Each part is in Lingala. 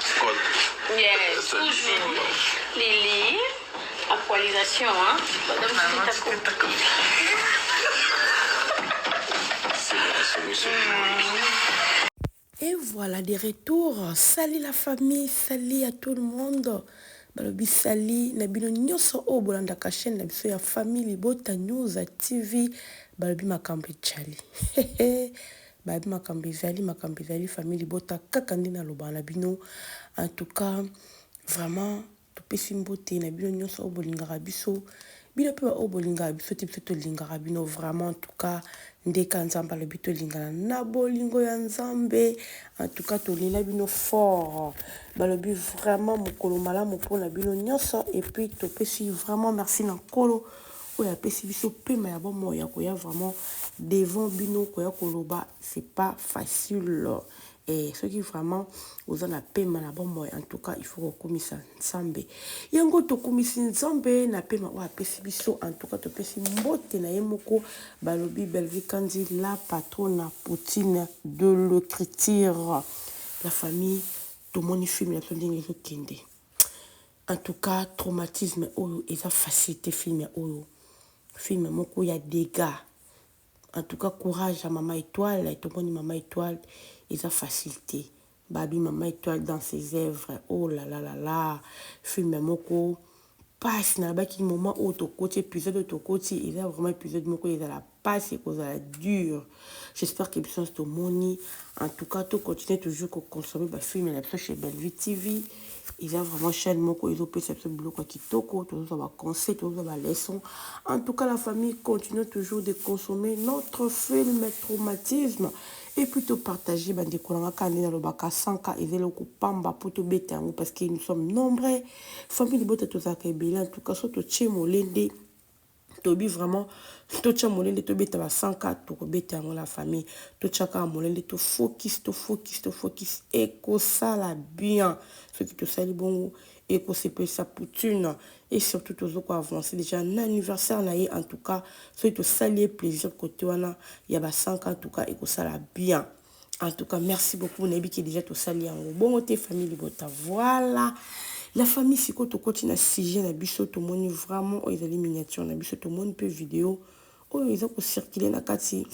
Scott. Yes, toujours. Lily, actualisation, hein. Madame, Maman, tu peux pas comme C'est la solution. Et voilà, de retour. Salut la famille, salut à tout le monde. balobi sali na bino nyonso oyo bolandaka chaîne na biso ya famille libota news tv balobi makambo ejali Baby makambo ezali makambo ezali famille libota kaka nde nalobaka na bino en tout cas vraiment topesi mbote na bino nyonso oyo bolingaka biso bino mpe baoyo bolingaka biso te biso tolingaka bino vraiment en tout cas ndeka nzambe alobi tolingana na bolingo ya nzambe en tout cas tolela bino fort balobi vraiment mokolo malamu mpo na bino nyonso epuis topesi vraiment merci na nkolo oyo apesi biso pema ya bomoi ya koya vraiment devant bino koya koloba c'est pas facile eh, soki vraiment oza na pema na bomoi en tout cas il faut kokumisa nzambe yango tokumisi nzambe na pema oyo apesi biso en tout cas topesi mbote na ye moko balobi bellevie kanzi la patrona poutine de l'écriture la famille tomoni film na biso ndenge ezokende En tout cas traumatisme oyo eza facile te film oyo film moko ya degat en tout cas courage ya maman etoile tomoni maman etoile eza facile te babi maman etoile dans ses œuvres oh la la la la film moko pasi nalabaki moment oyo tokoti episode oyo tokoti eza vraiment episode moko ezala pasi ekozala dur j'espère que biso nionso tomoni en tout cas to continuer toujours ko consommer ba films na biso chez Bellevue TV eza vraiment chaîne moko ezopesa biso biloko ya kitoko tozozwa ba conseil tozozwa ba leçon en tout cas la famille continue toujours de consommer notre film traumatisme et puis topartage bandeko na nga kaka nde nalobaka sanka eza eloko pamba mpo tobeta yango parce que nous sommes nombreux famille libota tozalaka ebele en tout cas so totie molende Toby vraiment totia molende tobeta ba 100 ka tokobeta yango na famille totia kaka molende to focus to focus to focus ekosala bien soki tosali bongo ekosepelisa poutine et surtout tozo ko avancer déjà na anniversaire na ye en tout cas soki tosali ye plaisir kote wana ya ba 100 ka en tout cas ekosala bien En tout cas, merci beaucoup. On a que déjà tout ça liango. Bon, tes famille libota. Voilà. La famille, si tu continues à sujet, na biso, tout le monde vraiment, oh, ils allaient miniature, na biso, tout le monde peut vidéo. Oh, ils ont circulé, na kati.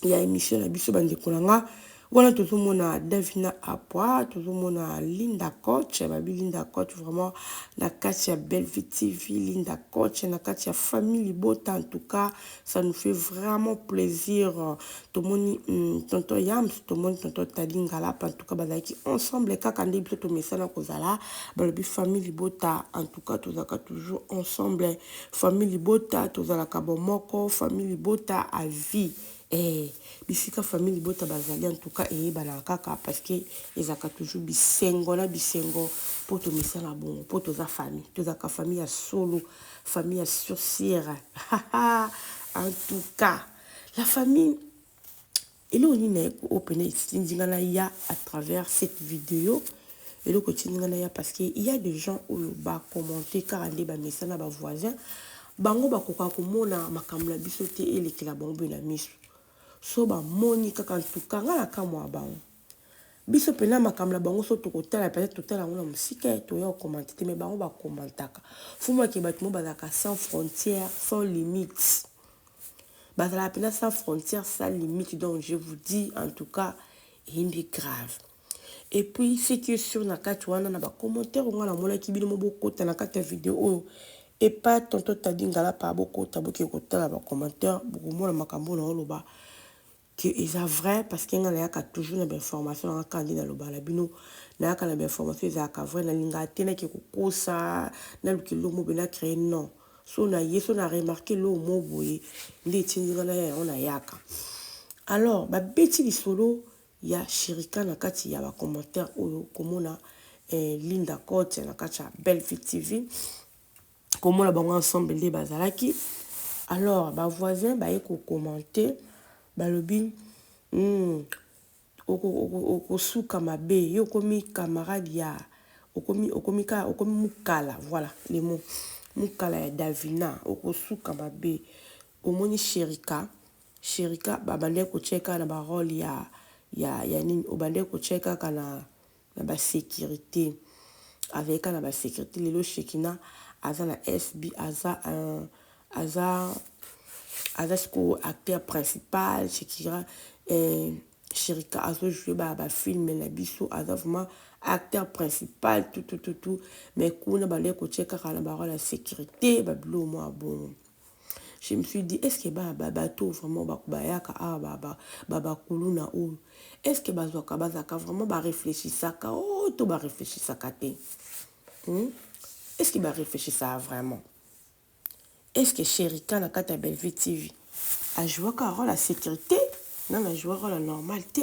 Il y a émission, na biso, bande kolanga. Voilà, tout le monde a Davina Apua, tout le monde a Linda Coach, babi Linda Coach, vraiment, na kati ya Bellevue TV, Linda Coach, na kati ya famille libota, en tout cas, Ça nous fait vraiment plaisir. Tomoni mm, tonton Yams, tomoni tonton Tadi Ngalap, en tout cas bazalaki ensemble kaka nde biso tomesana kozala balobi famille libota. En tout cas tozalaka toujours ensemble. Famille libota tozalaka bomoko, famille libota à vie. Eh, bisika famille libota bazali en tout cas eyebanaka kaka parce que ezalaka toujours bisengo na bisengo mpo tomesana bongo mpo toza famille tozalaka famille ya solo famille ya surciere en tout cas la famille eloko nini naye oyo mpena etindi nga naya à travers cette video eloko etindi nga naya parce que il y a des gens oyo bacommente kaka nde bamesana bavoisin bango bakoka komona makambo na biso te elekela bango mpe na miso so bamoni kaka ntuka nga nakamwa bango Biso pena makambo na bango so tokotala peut-etre totala yango na mosika eh, toya kokomante te mais bango bakomantaka. Fumu ake bato mo bazalaka sans frontière, sans limite. Bazalaka pena sans frontière, sans limite donc je vous dis en tout cas eyindi grave. Et puis ce qui est sûr na kati wana na ba commentaire onga na monaki bino mo bokota na kati ya video oyo et pas tonton Taddy Ngalapa bokota boke kotala ba commentaire bokomona makambo na oloba que eza vrai parce que nga nayaka toujours na ba information nanga kaka nde naloba na bino nayaka na ba information ezalaka vrai nalingaka te nake kokosa naluka eloko moko boye na cree non so naye so na remarque eloko moko boye nde etindi nga naya yango nayaka alors babeti lisolo ya shirika na kati ya ba commentaire oyo komona eh, linda cote na kati ya belvie tv komona bango ensemble nde bazalaki alors ba voisin baye kokomante balobi mm, okosuka mabe yo okomi camarade ya okomi okomi ka okomi mukala voilà le mot mukala ya davina okosuka mabe omoni sherika sherika babandaki kotyeka na barole ya ya ya nini obandaki kotyeka kana na ba securite azali kaka na ba securite lelo shekina aza na SB aza un aza aza sikoyo acteur principal shekira eh, sherika azo joue ba ba film na biso aza vraiment acteur principal tout tout tout tout mais kuna bale kotie kaka na ba role ya securite ba bilo mwa bongo Je me suis dit, est-ce que ba ba bateau vraiment ba bayaka ah ba ba ba ba kuluna oyo est-ce que bazwaka bazaka vraiment ba réfléchissaka oh to ba réfléchissaka te hmm? est-ce que ba réfléchissaka vraiment est-ce que Sherika na kata Bellevue TV a joué ka rôle la sécurité non na joué rôle la normal te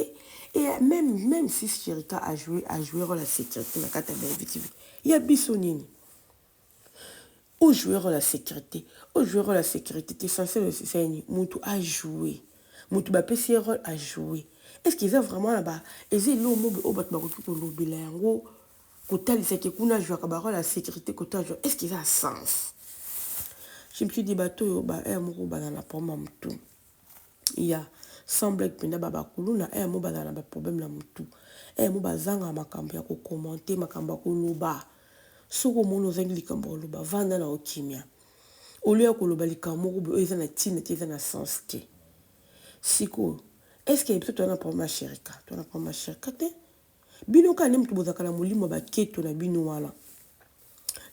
et même même si Sherika a joué a joué rôle la sécurité na kata Bellevue TV ya biso nini O jouer role ya securite, o jouer role ya securite te sense na yo esisa ye nini? Mutu a jouer, mutu ba pesi ye role a jouer est ce que eza vraiment na ba eza eloko moko oyo batu ba koki ko lobela yango ko talisa que kuna a jouaka ba role ya securite kote a jouaka est ce que eza na sense? Je me suis dit batu oyo ba heure moko ba zala na problème ya mutu. ya sans blague penda ba ba kuluna heure moko bazala na ba problème na mutu heure moko bazanga makambo ya ko commenter makambo ya koloba soki omoni ozangi likambo ya koloba vanda na yo kimia au lieu ya koloba likambo moko boye oyo eza na ntina te eza na sens te sikoyo est-ce que biso toza na problème ya sherika toza na problème ya sherika te bino kaka nde moto bozalaka na molimo ya baketo na bino wana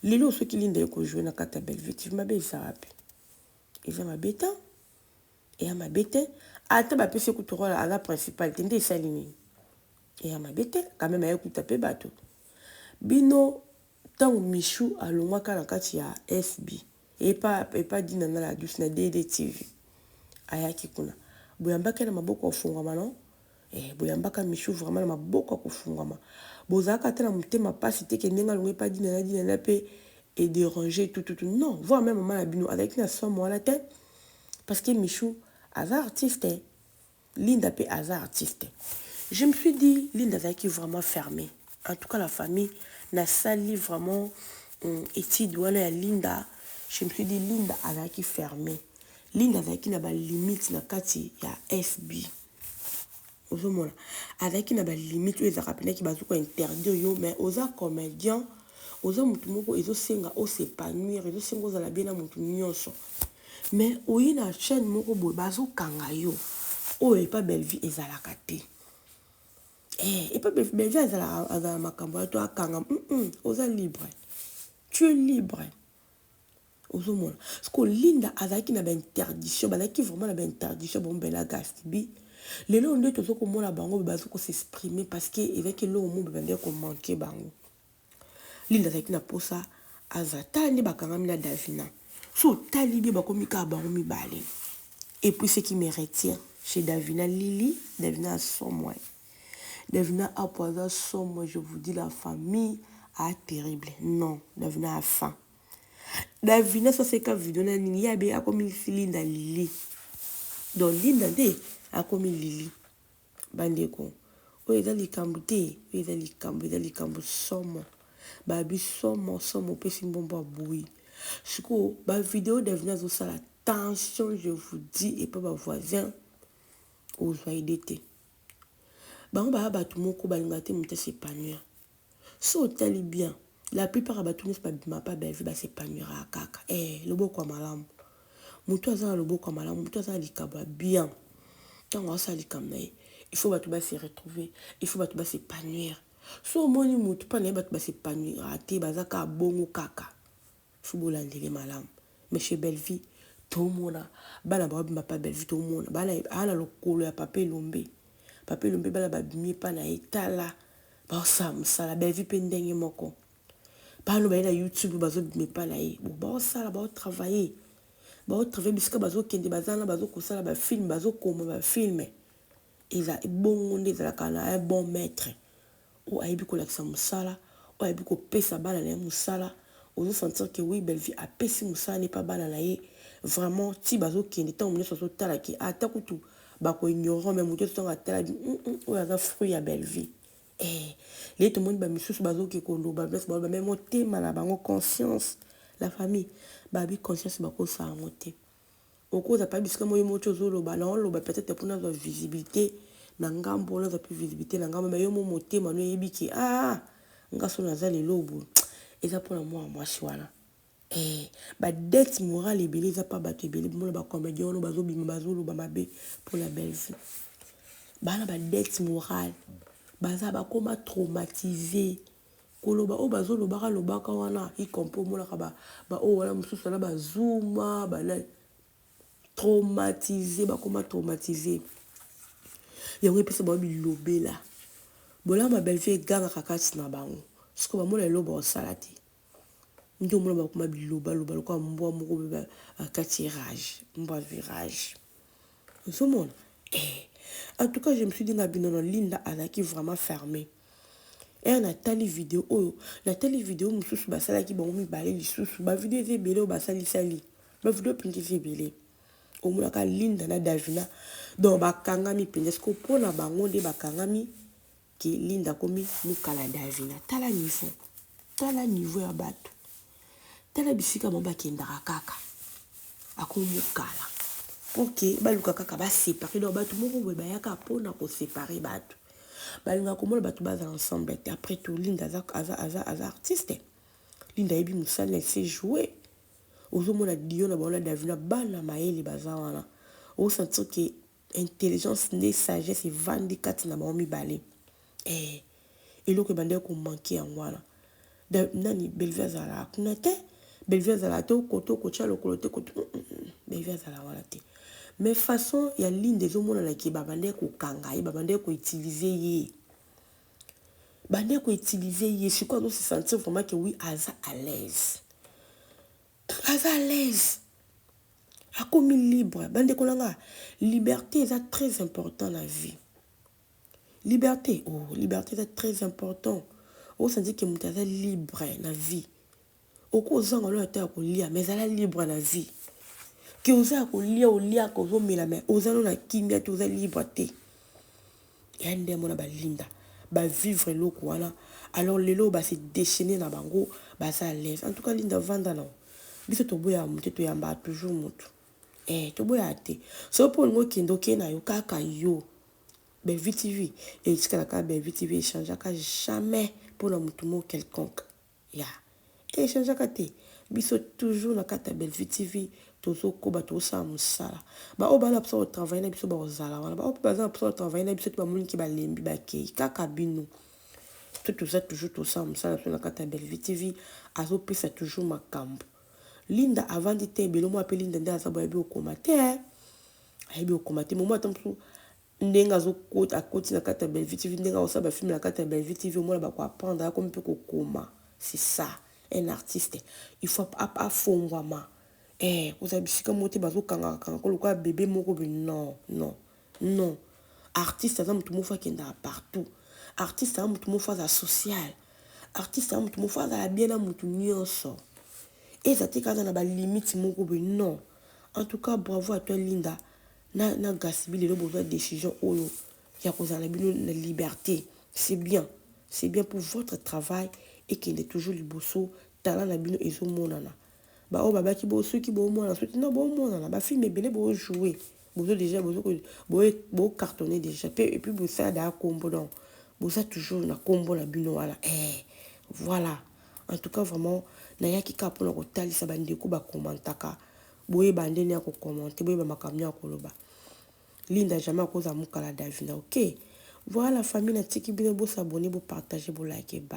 lelo soki linda ye kojoue na kati ya bellevue tv mabe eza wapi eza mabe te Eya mabe te ata ba pesi ye kutu role aza principal te nde esali nini? Eya mabe te quand meme aye kuta pe batu bino tangu Michou alongwaka na kati ya SB epa epa Dina na la douce na DD TV ayaki kuna boyambaki ye na maboko ya ofongwama non? Eh boyambaka Michou vraiment na maboko ya kofungwama. Bozalaka ata na motema pasi te que ndenge alongwe pa Dinana, Dinana pe e deranger tout tout tout non voir meme maman na bino azalaki na somo wana te parce que Michou aza artiste Linda pe aza artiste. Je me suis dit Linda azalaki vraiment fermee. En tout cas la famille na sali vraiment hum, étude wana ya Linda je me suis dit Linda azalaki fermée. Linda azalaki na ba limite na kati ya FB. ozomona azalaki na balimite oyo ezalaka mpendaki bazoki kointerdire yo mais oza comedian oza motu moko ezosenga osepanuire ezosenga ozala bie na motu nyonso mais oye na chaîne moko boye bazokanga yo oyo epa bellevie ezalaka te eh, epa bellevie azalaka makambo ya to akanga mm -mm, oza libre tu es libre ozomona siko linda azalaki na bainterdiction bazalaki vraiment na bainterdiction bango bela gastibi lelo nde tozo komona bango be bazo kosexprime parceke ezalaki eloko mo be bandaki komanke bango linda azalaki na mposa aza tala nde bakangami na davina so otali bie bakomi kaka bango mibale epuis ce qui me retire chez davina lili davina asomwani Davina Apo aza somo je vous dis la famille a terrible non Davina a fin Davina soit c'est ka video na nini yabe akomi filinda lili donc linda nde akomi lili bandeko oyo eza likambo te oyo eza likambo eza likambo somo babi somo somo opesi mbombo aboyi sikoyo bavideo davina azosala tension je vous dis epa bavoisin ozwa ide te Bango baya batu moko balingaka te moto a s'epanouir. Soki otali bien la plupart ya batu nionso ba bimaka pe ya Bellevue ba s'epanouiraka kaka ee loboko ya malamu. Mutu aza na loboko ya malamu, mutu aza na likabo ya bien tangu azo sala likambo na ye il faut batu ba se retrouver, il faut batu ba s'epanouir. Soki omoni mutu epai na ye batu ba s'epanouiraka te baza kaka bongo kaka. Faut bolanda ye malamu. Mais chez Bellevue tomona bana ba bima pa Bellevue tomona bana a na lokolo ya papa elombe papa elombe bana ba bimi epa na ye tala bao sala musala Bellevue pe ndenge moko bana baye na YouTube bazo bima epa na ye bo bao sala bao travailler bao travailler bisika bazo kende baza na bazo kosala ba film bazo koma ba film Eza bongo nde ezalaka na un bon maitre oyo ayebi kolakisa musala, oyo ayebi kopesa bana na ye musala, ozo sentir que oui Bellevue apesi musala na epa bana na ye vraiment tii bazo kende tango nioso azo tala que ata kutu ba ko ignorant mais mutu nioso atala dit hum hum oyo aza fruit ya Bellevue eeh lelo tomoni ba misusu bazo ke koloba place ba loba mais motema na bango conscience la famille ba bi conscience ba kosa yango te. Okoza pa bisika moye motio ozoloba na oloba peut-etre po nazwa visibilite na ngambo nazwa pe visibilite na ngambo mais yo mo motema no eyebi ke aah nga so naza lelo boye eza pona mwana mwasi wana eh ba dette morale ebele eza pa bato ebele bomona ba comedien wana bazobima bazoloba mabe pona Bellevue bana ba dette morale baza bakoma traumatise Koloba oyo bazo lobaka lobaka wana y compris omonaka ba ba oyo wana mususu wana ba zuma ba nani traumatise bakoma traumatise yango epesa bango bilobela bolama ma bellevue egangaka kati na bango siko bamona eloko bakosala te nde omona bakoma bilobaloba lokola mbwa moko be bakati rage mbwa azwi rage ozomona eh. en tout cas je me suis dit na bino na linda azalaki vraiment fermee Heure na tali video oyo na tali video mususu ba salaki bango mibale lisusu ba video eza ebele oyo ba sali sali ba video penza eza ebele omonaka Linda na Davina donc ba kangami penza siko pona bango nde ba kangami ki Linda komi mukala Davina tala niveau tala niveau ya batu Tala bisika bango bakendaka kaka ako mukala pour que baluka kaka ba separer donc batu moko boye bayaka pona ko separer batu balingaka komona batu bazala ensemble te après tout Linda aza, aza, aza, aza artiste Linda ayebi mosala elle sait jouer ozomona dio na bango na Davina bana mayele baza wana osentir ke Intelligence nde sagesse evandi kati na bango mibale eh eloko ebandaki ko manquer yango wana nani Bellevue azalaka kuna te Bellevue azalaka te koto okotia lokolo te koto Bellevue azalaka wana te mais façon ya Linda ezomonana ke babandaki kokanga ye babandaki ko utiliser ye bandaki ko utiliser ye sikoyo azo se sentir vraiment ke oui aza à l'aise Aza à l'aise akomi libre ba ndeko na nga liberte eza très important na vie liberte oh liberte eza très important o sentir que mutu aza libre na vie oko zanga lola ta ya kolia mais zala libre na vie que oza ya kolia oliaka ozomela mais oza no na kimia te oza libre te Ya nde amona ba linda ba vivre eloko wana alors lelo ba se dechainer na bango baza à l'aise en tout cas linda vanda na yo biso toboya mutu te toyamba toujours mutu eh toboya te soki mpo olingi okende okei na yo kaka yo Bellevue TV etikala kaka Bellevue TV echangeaka jamais mpo na mutu moko quelconque Ya e changeaka te biso toujours na kati ya Bellevue TV tozo koba tozo sala musala ba oyo baza na posa ko travailler na biso bako zala wana ba oyo pe baza na posa ko travailler na biso te ba moni ke ba lembi ba keyi kaka bino biso toza toujours tozo sala musala na biso na kati ya Bellevue TV azo pesa toujours makambu Linda avandi te ebele omona pe Linda nde aza boye ayebi ko koma te ayebi ko koma te mais omona ata mosusu ndenge azo kota akoti na kati ya Bellevue TV ndenge akosala ba film na kati ya Bellevue TV omona bako apprendre akomi mpe kokoma c'est ça un artiste il faut afongwama eh kozala bisika moko te bazo kangaka kangaka lokola bebe moko be non non non artiste aza motu moko akendaka partout artiste aza motu moko azala social artiste aza motu moko azala bien na motu nyonso eza te kaka na balimite moko be non en tout cas bravo à toi linda na na gasbi lelo bozwa decision oyo ya kozala na bino na liberte c'est bien c'est bien pour votre travail ekende toujours liboso talent na bino ezomonana baoyo babaki bo soki boomona soki na boomonana bafilme ebele boojoue bozo deja bocartonne deja mpe epuis bosala daa kombo donc boza toujours na kombo na bino wana eh voilà en tout cas vraiment nayaki kaka mpona kotalisa bandeko bakomantaka Boyeba ndeni ya ko commenter, boyeba makambo nini ya koloba. Linda jamais akozala mukala Davina ok? Voilà famille natiki bino bo s'abonner, bo partager, bo liker. Bye.